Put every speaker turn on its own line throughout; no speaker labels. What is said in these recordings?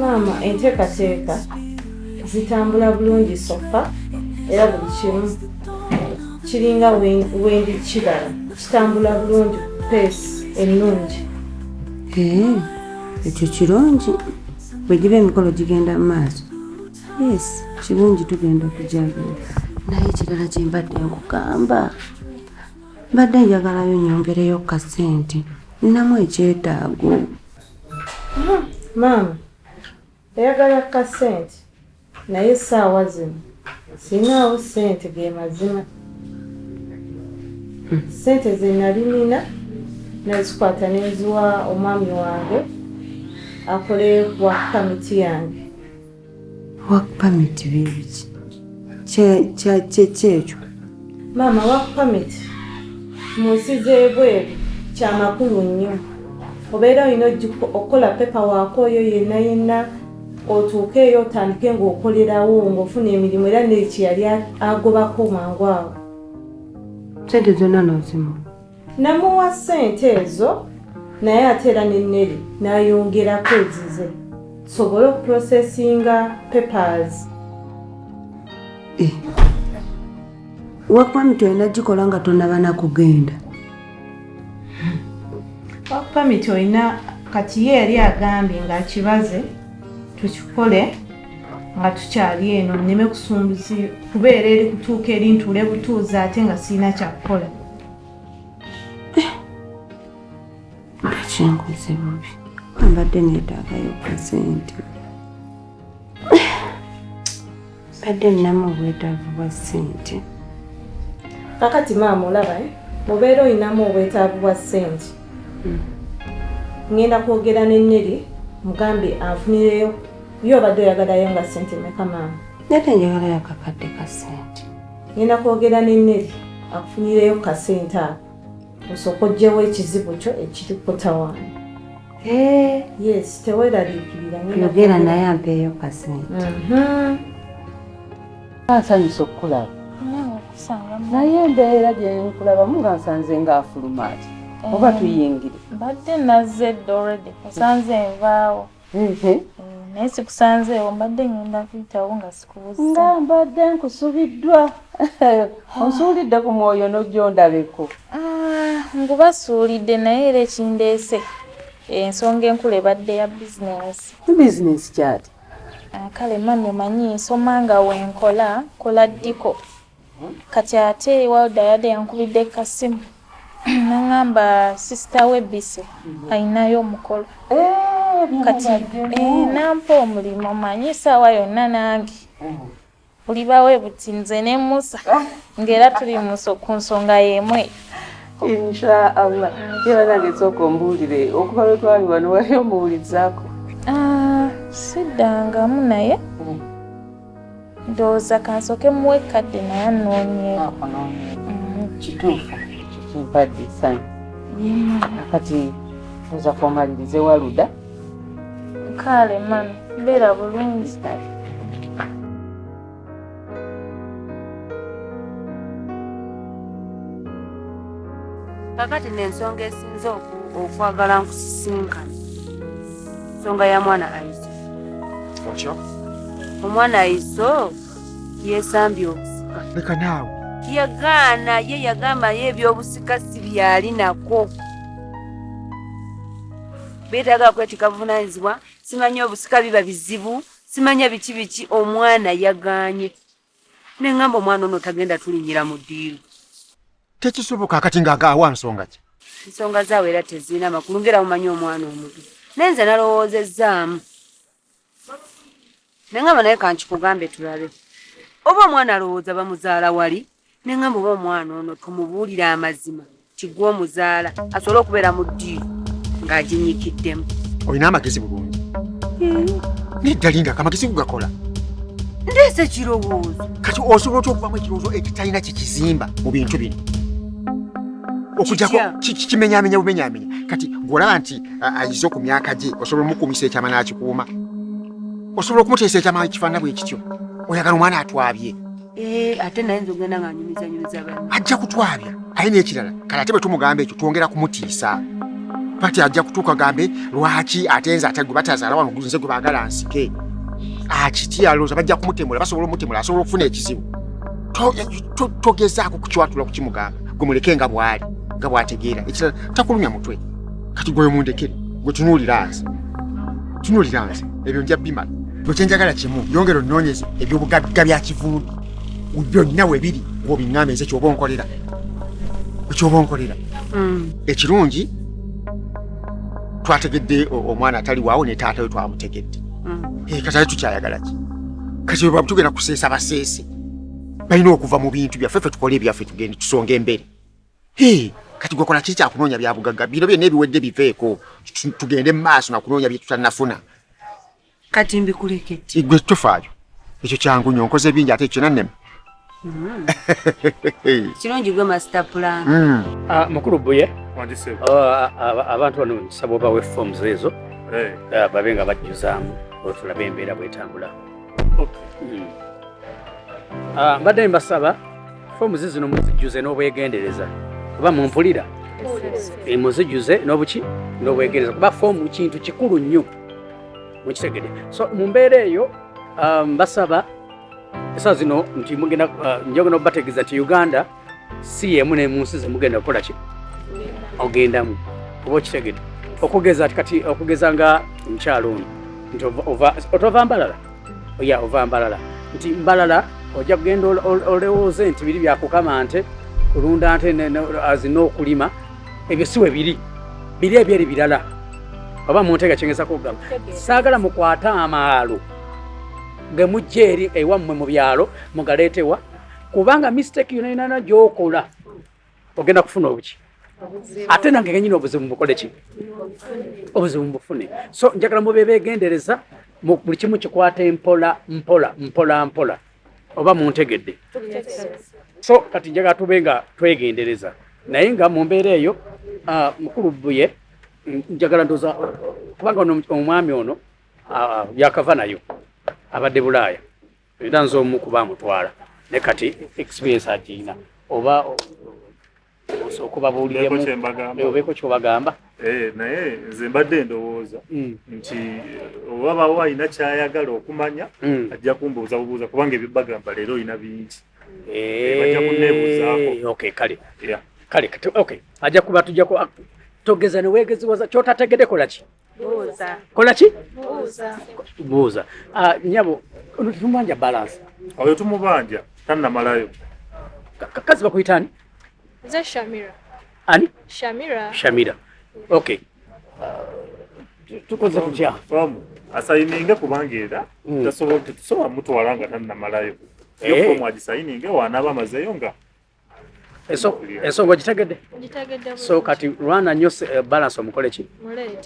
maama enteekateeka zitambula bulungi sofa era buli kimu kiringa wendi kibala kitambula bulungi peesi ennungi eh,
ekyo kirungi bwe giba emikolo gigenda mu maaso yes kirungi tugenda kujagulo naye ekirala kyembadde nkugamba mbadde njagalayo nyongereyo ku kasente nnamu ekyetaago
maama eyagala ku kasente naye essaawa zino sinaawo sente ge mazima sente ze nali nina nazikwata neziwa omwami wange akole wa kamiti yange
work permit bibiki kyekyo maama work
permit mu nsi z'ebweru kya makulu nnyo obeera olina okukola pepa waako oyo yenna yenna otuuke eyo otandike ng'okolerawo ng'ofuna emirimu era nekyeyali agobako mangu awo
sente zonna nozimu namuwa
ssente ezo naye ate era ne neri n'ayongerako ezize tusobole okuprosesinga papers eh.
wakpamit olina gikola nga tonabana kugenda
wakpamit olina kati ye yali agambye ngaakibaze tukikole nga tukyali eno nneme kusumbuzi kubeera eri kutuuka erintuule butuuzi ate nga sirina kyakukola
kyenguze bubi mbadde neetaagayo kasente mbadde ninamu obwetaavu bwa ssente
kakati maama olaba eh? mubeera olinamu obwetaavu bwa ssente hmm. ngenda kwogera neneri mugambe afunireyo yo obadde oyagalayo nga sente meka maama nate njagalayo
kakadde ka sente ngenda kwogera
ne Neri akufunireyo ku kasente ako osooka oggyewo ekizibu kyo ekiri kutawaana. Eh. Yes, teweeraliikirira. Yogera naye
ampeeyo kasente. Mhm.
Nsanyusa okukulaba. Naye embeera gye nkulabamu nga nsanze ng'afuluma ati. Oba eh. tuyingire. Mbadde nazze
dda already. Nsanze nvaawo. Eh, naye sikusanzeewo mbadde ngenda kuyitawo nga sikubuza nga mbadde
nkusubiddwa onsuulidde ku mwoyo nojondabeko ah, ngubasuulidde
naye era ekindeese ensonga enkulu ebadde ya bizinensi bizinensi kyati
ah, kale
mami omanyi nsoma nga wenkola kola ddiko kati ate walda yade yankubidde kasimu nangamba sisita we bise alinayo omukolo eh, kati eh, nampa omulimu manyi saawa yonna nange ulibawe buti nze ne musa ah. ngaera tuli ku nsonga yemwe
inshaallah era nange sooka ombuulire okuba lwetwali wano wali omuwulizaako ah,
siddangamu naye mm. ndowooza kansoke muwe kadde naye anoonyeeko mm.
kituufu kituufadde sani akati oza kuomalirize waluda
kaale mami beera bulungi kakati nensonga esinze
okwagala nkusisinkana nsonga ya mwana aiza Watya? Omwana Iso yesambye obusika. Leka naawe.
Yagaana
ye yagamba ye eby'obusika si byali nako. Beetaaga kwetika buvunaanyizibwa simanyi obusika biba bizibu simanya biki biki omwana yagaanye. ne ŋŋamba omwana ono tagenda tulinnyira mu ddiiru tekisoboka
kati nga awa nsonga ki ensonga zaawe era
tezirina makulu ngera mumanyi omwana omuto naye nze nalowoozezzaamu ne ŋŋamba naye kankikugambe tulabe oba omwana alowooza bamuzaala wali ne ŋŋamba oba omwana ono tumubuulire amazima kiggwa omuzaala asobole okubeera mu ddiiru ng'aginyikiddemu olina amagezi
bulungi nedda linda kamagezi kugakola ndeese
ekirowoozo kati osobola otya
okubamu ekirowoozo ekitalina kyekizimba mu bintu bino okujako kimenyamenya bumenyamenya kati golaba nti ayize ku myaka gye osobola omukuumisa ekyama n'akikuuma osobola okumuteesa ekyama ekifaanana bwe kityo oyagala omwana atwabye Eh, ate naye
nze ogenda nga nyumizanyumiza ba ajja kutwabya
aye n'ekirala kale ate bwe tumugamba ekyo twongera kumutiisa pati ajja kutuuka gambe lwaki ate nze ate gwe batazaala wano nze gwe baagala nsike akitya ah, alowooza bajja kumutemula basobola omutemula asobola okufuna ekizibu togezaako kukiwatula kukimugamba gwe muleke nga bw'ali nga bw'ategeera ekirala takulumya mutwe kati gwe mundekere gwe tunuulira nze tunuulira nze ebyo nja bimala gwe kyenjagala kimu yongera onoonyeza ebyobugagga bya kivundu byonna we biri gwobiŋŋamba enze kyoba onkolera ekyoba onkolera hmm. ekirungi twategedde omwana atali waawo ne taata we twamutegedde hmm. eh, katali tukyayagala ki kati bwe batugenda kuseesa baseese balina okuva mu bintu byaffe ffe tukole ebyaffe tugende tusonga emberi Hey, kati gwakola kiki kyakunoonya bya bugagga bino byonna ebiwedde biveeko tugende mu maaso na kunoonya bye tutannafuna kati
mbikulekedde igwe tofaayo
ekyo kyangu nyo nkoze bingi ate kyona neme hmm.
kirungi gwe masita pulani hmm. ah, mukulu
buye ah, ah, abantu bano nsaba obawe forms ezo eh. babe nga bajjuzaamu otulabe embeera bwetambula hmm. mbadde mbasaba fomu zizino muzijjuze n'obwegendereza oba mumpulira eh, muzijjuze n'obuki n'obwegendereza kuba fomu kintu kikulu nnyo mukitegede so mu mbeera eyo um, basaba esaa zino nti mugenda uh, njogenda okubategeeza nti uganda si yemu nemunsi zemugenda kukola ki ogendamu oba okitegede okugeza kati okugeza nga omukyalo ono nti otova mbalala oya ova mbalala nti mbalala ojja kugenda olowooze nti biri byakukama nte kulunda nte azi n'okulima ebyo si we biri biri ebyeri birala oba muntega kyengeza kugamba saagala mukwate amaalo ge mujja eri ewammwe mu byalo mugaleetewa kubanga mistake yonayonana gyokola ogenda kufuna obuki ate nange ngenyini obuzibu mubukole ki obuzibu mubufune so njagala mube begendereza buli kimu kikwata empola mpola mpola mpola oba muntegedde so kati njagala tube nga twegendereza naye nga mu mbeera eyo ah, mukulu buye njagala ndoza kubanga omwami ono ah, yakava nayo abadde bulaaya Era nze omu kuba amutwala ne kati experience agirina oba osooka obabuuliremu obeeko kyobagamba eh, naye
nze mbadde ndowooza hmm. nti eh, oba bawo alina kyayagala okumanya hmm. ajja kumbuuza bubuuza kubanga ebyo bagamba leero olina bingi eh, bajja kunebuuzaako
kale kale ajja kuba tujja togeza newegeziwaza kyotategedekolaki kola
ki buuza ah, nyabo
ono tetumubanja balance oyo tumubanja
tannamalayo
kazi bakuyita ani nze
shamira ani
shamira shamira
okay
ah, tukoze tutya fomu
asayininge kubanga era hmm. tasobola tetusobola mutwala nga tannamalayo yo eh. fomu agisayininge wanaaba amazeyo nga
ensonga ogitegedde so
kati lwana
nyo eh, balance omukole ki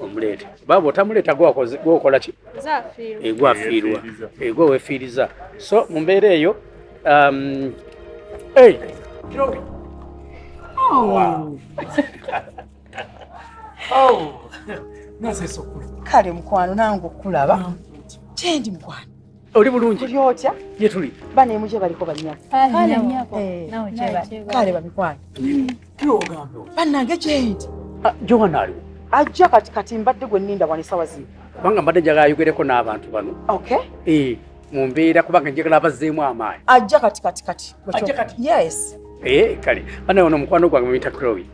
omuleete baba otamuleeta gwokola ki
egwafiirwa
eh, egwe eh, wefiiriza so mu mbeera eyo um, oh. oh.
kale mukwano nange okulaba kyendi mukwano Oli
bulungi. Tuli otya? Ye tuli.
Bana
emuje baliko
banyako. Ah, Kale nyako. Eh.
Nawe
cheba. Kale babikwana. Mm. Kyo ogambe.
Bana ngejenti.
Ah, Johan ali.
Ajja kati kati
mbadde gwe ninda wani sawa zino. Banga mbadde jaga
ayugereko n'abantu bano. Okay. Eh,
mu mbeera
kubanga njagala abazzeemu amaanyi. Ajja kati kati kati.
Ajja
kati. Yes.
Eh, kale.
Bana ono mukwano gwange muyita Chloe.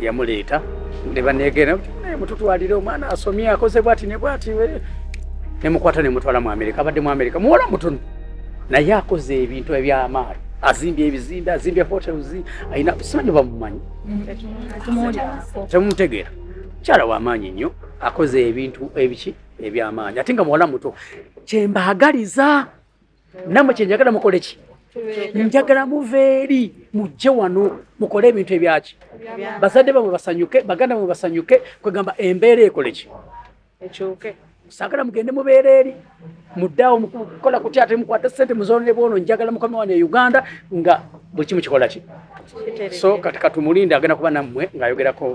yamuleeta ne baneegera naye mututwalire omwana asomye akoze bwati ne bwati nemukwata nemutwala mu amerika abadde mu amerika muwola mutono naye akoze ebintu ebyamaali azimbye ebizimbe azimbye hotels alina simanyi bamumanyi temumutegeera mukyala wamaanyi nnyo akoze ebintu ebiki ebyamaanyi ate nga muwala muto kyembaagaliza namwe kyenjagala mukole ki njagala muva eri mujje wano mukole ebintu ebyaki bazadde bamwe basanyuke baganda bamwe basanyuke kwegamba embeera ekole ki sagala mugende mubeera eri muddaawo mukukola kutya ate mukwate sente muzonere bwono njagala mukama wano e uganda nga buli kimu kikola ki so kati katumulinde agenda kuba nammwe ng'ayogerako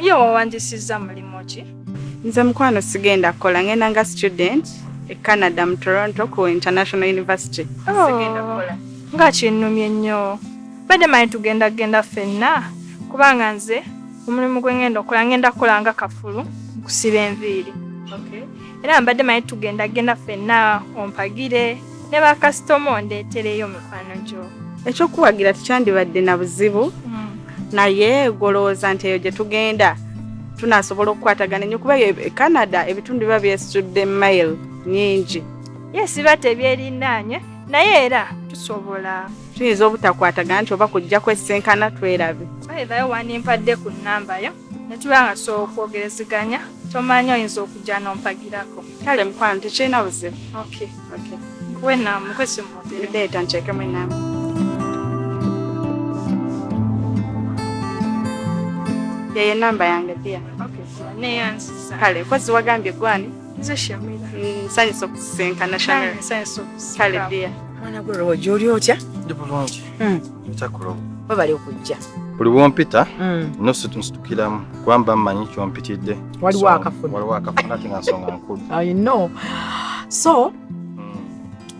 Ye wawanjisizza mulimu ki? Nze mukwano
sigenda kukola ngenda nga student e Canada mu Toronto ku International University. Oh. Sigenda kukola. Nga kinnumye
nnyo. Badde manyi tugenda genda ffenna kubanga nze omulimu gwe ngenda okukola ngenda kukola nga kafulu nkusiba enviiri. Okay.
era mbadde manyi
tugenda genda fenna ompagire ne bakasitoma ondeetereyo mikwano gyo ekyokuwagira
tekyandibadde na buzibu hmm. naye golowooza nti eyo gye tugenda tunasobola okukwatagana enyo kuba e canada ebitundu biba byesitudde mail nyingi yesi ba
tebyerinaanye naye era tusobola tuyinza
obutakwatagana nti oba kujja kwesisinkana twerabe aeayo wanimpadde
ku nambayo ne tuba nga tusobola okwogerezeganya tomanya oyinza okujja n'ompagirako kale mukwano
tekirina buzibu okay. okay.
kuwe naamu kwesimu leeta nkyekemu enaamu
yeye namba yange pia
kale kozi wagambye
gwani nsanyusa mm, okusisinkana kale
dia
mwana gwe rojo
oli otya ndi bulungi hmm.
webale okujja
buli bwompita
mm. nositukiramu kubamba mmanyi kyompitidde waliwo
akafuna ate nga
nsonga nkulu so mm.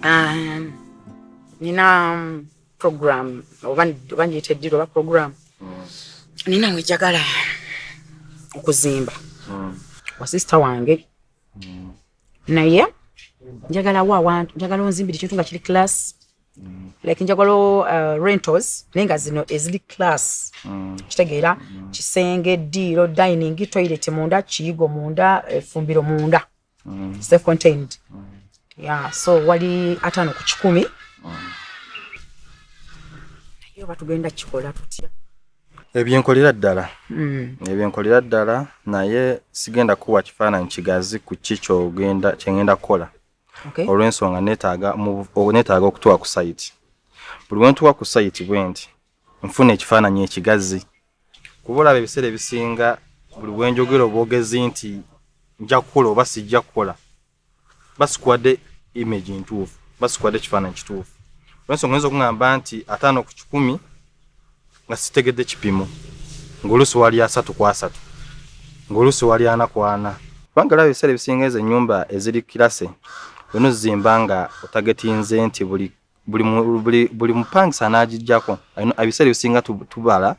um, nina um, program oba njiyita eddiro oba program mm. nina wejagala okuzimba wa sisita wange naye njagala wa awantu njagala onzimbire ekintu nga kiri class mm. like njagala uh, rentals naye nga zino eziri class mm. kitegeera mm. kisenge diiro dining toilet munda kiyigo munda efumbiro munda mm. self contained mm. yeah, so wali ataano ku kikumi mm. naye oba tugenda kikola tutya ebyenkolera
ddala mm. ebyenkolera ddala naye sigenda kuwa kifaananyi kigazi ku ki kyogenda kyengenda kukola okay. olw'ensonga netaaga netaaga okutuwa ku sayiti buli wentuwa ku sayiti bwe nti nfuna ekifaananyi ekigazi kuba olaba ebiseera ebisinga buli wenjogera obwogezi nti nja kukola oba sijja kukola basikwade image ntuufu basikwade ekifaananyi kituufu olwensonga oyinza okungamba nti ataano ku kikumi nga sitegedde kipimo ngaoluusi wali asatu ku asatu ngaoluusi wali ana ku ana kubanga laba ebiseera ebisinga ezo ennyumba eziri kirase olina ozizimba nga otagetinze nti buli buli mupangisa anagijjako ebiseera ebisinga tubala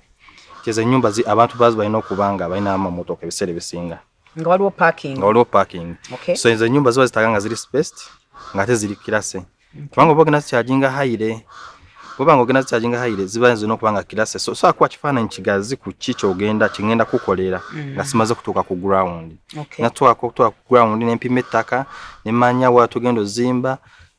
kyeza ennyumba abantu bazi balina okuba nga balina amamotoka ebiseera ebisinga nga waliwo parking
nga waliwo parking okay. so enzo
nyumba ziba zitaga nga ziri spaced nga ate ziri kirase okay. kubanga oba ogenda zikyajinga hayire bwoba nga ogenda zikyajinga hayire ziba zirina okuba nga kirase so so akuwa kifaananyi kigazi ku ki kyogenda kyengenda kukolera mm. nga simaze kutuuka ku ground okay. natuwako
okutuuka ku
ground nempima ettaka nemanya wa tugenda ozimba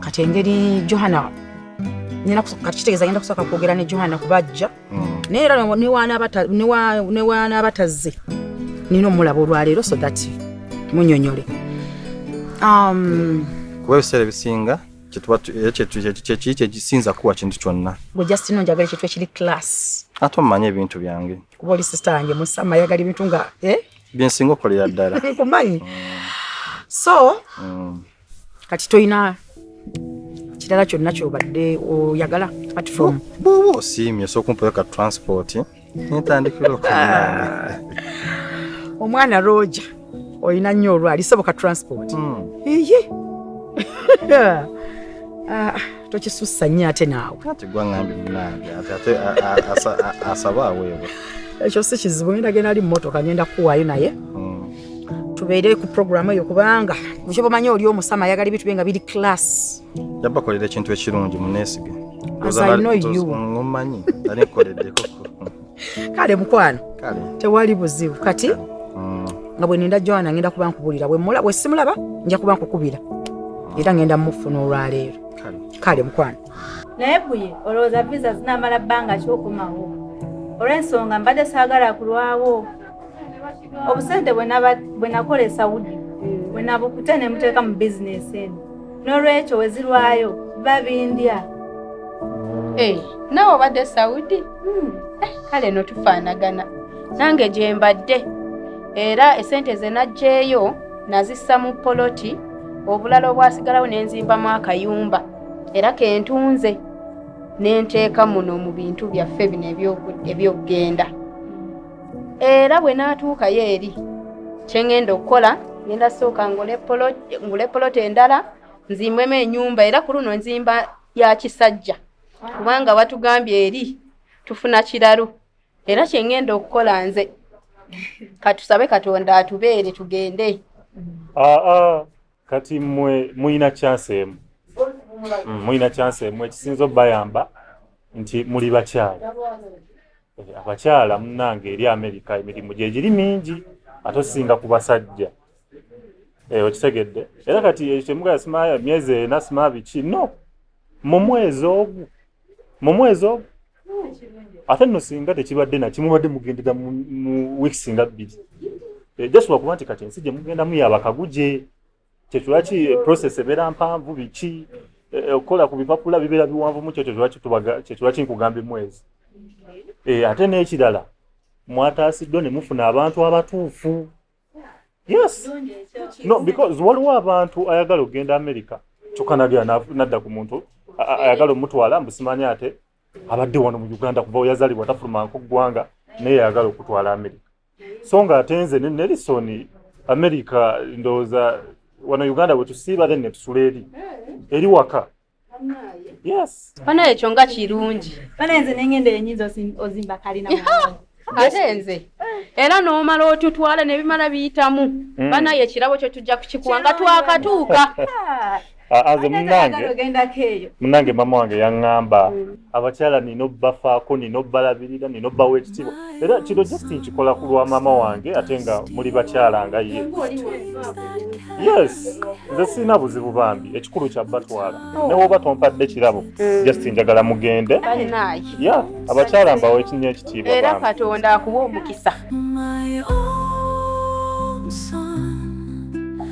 kati engeri johana kati kitegeeza agenda kusooka kwogera ne johana kuba ajja hmm. naye era newanaabatazze nina omulaba olwaleero so that munyonyole um,
kuba ebiseera ebisinga kyekiki kyekisinza kuwa kintu kyonna gwe just no njagala ekintu
ekiri class ate omumanye ebintu
byange kuba oli sista yange
musama ayagala ebintu nga eh? byensinga okolera
ddala nkumanyi
mm. so mm. kati toyina kirala kyonna kyobadde oyagala platform bwoba osiimye
sokumpaka transport nentandikira okunanga
omwana roja olina nnyo olwali soboka transport hmm. eye ah, tokisussa nnyo ate naawe
asaba aweebwa ekyo si kizibu
ngenda genda ali mumotoka ngenda kuwaayo naye hmm. tubeere ku programu eyo kubanga bukyo bamanyi oli omusama ayagala ebintu bye nga biri class yabakolera ekintu
ekirungi muneesige omanyi
alikoleddeko
kale
mukwano tewali buzibu kati mm. nga bwe ninda joana ngenda kuba nkubuulira bwe simulaba nja kuba nkukubira mm. era ngenda mufuna olwaleero kale mukwano naye buye
olowooza visa zinamala bbanga kyokomawo olw'ensonga mbadde saagala kulwawo obusente bwe nakola e saudi bwe nabukute ne muteeka mu bizinesi eno n'olwekyo wezirwayo babindya eh,
nawe obadde saudi hmm. eh, kale no tufaanagana nange gye mbadde era esente ze naggyeeyo nazissa mu poloti obulala obwasigalawo ne nzimbamu akayumba era kentunze ne nteeka muno mu bintu byaffe bino ebyokugenda era bwe naatuukayo eri kye ngenda okukola ngenda sooka ngule poloti endala nzimbwemu enyumba era ku luno nzimba ya kisajja kubanga batugambye eri tufuna kiralu era kye ngenda okukola nze katusabe katonda atubeere tugende aa ah, ah,
kati mwe mulina kyansi emu mm, mulina kyansi emu ekisinza obayamba nti muli bakyala Eh, abakyala munange eri amerika emirimu gyegiri mingi ate osinga ku basajja eh, okitegedde era kati ekyo kyemugala sima myezi ena sima biki no mu mwezi ogu mu mwezi ogu ate no singa tekibadde nakimubadde mugendera mu wiiki singa bbiri eh, just lwakuba nti kati ensi gyemugenda muyabakaguje kyekilwaki process ebeera mpanvu biki eh, eh, okukola ku bipapula bibeera biwanvu mu kyekilwaki kyekilwaki nkugamba emwezi eh, ate n'ekirala mwataasiddwa ne mufuna abantu abatuufu yes no because waliwo abantu ayagala okugenda america kyokka nagera nadda ku muntu ayagala omutwala mbusimanya ate abadde wano mu uganda kuva weyazalibwa tafuluma nko ggwanga naye yayagala okutwala amerika so nga ate nze ne nelison america ndowooza wano uganda bwetusiiba then netusula eri eri waka yes bana ekyo nga
kirungi bana nze nengenda
enyinza ozimba kalina ate nze
era n'omala otutwala nebimala biyitamu mm. banaye ekirabo kyo tujja kukikuwa nga twakatuuka
aze munange munange mama wange yaŋŋamba mm. abakyala nina obbafaako nina obbalabirira nina obbawa ekitiibwa era kino just nkikola ku lwa mama wange ate nga muli bakyala nga ye yes nze sirina buzibu bambi ekikulu kya batwala oh. newoba tompadde kirabo mm. just njagala mugende ya abakyala mbawa ekinya ekitiibwa era katonda akuba
omukisa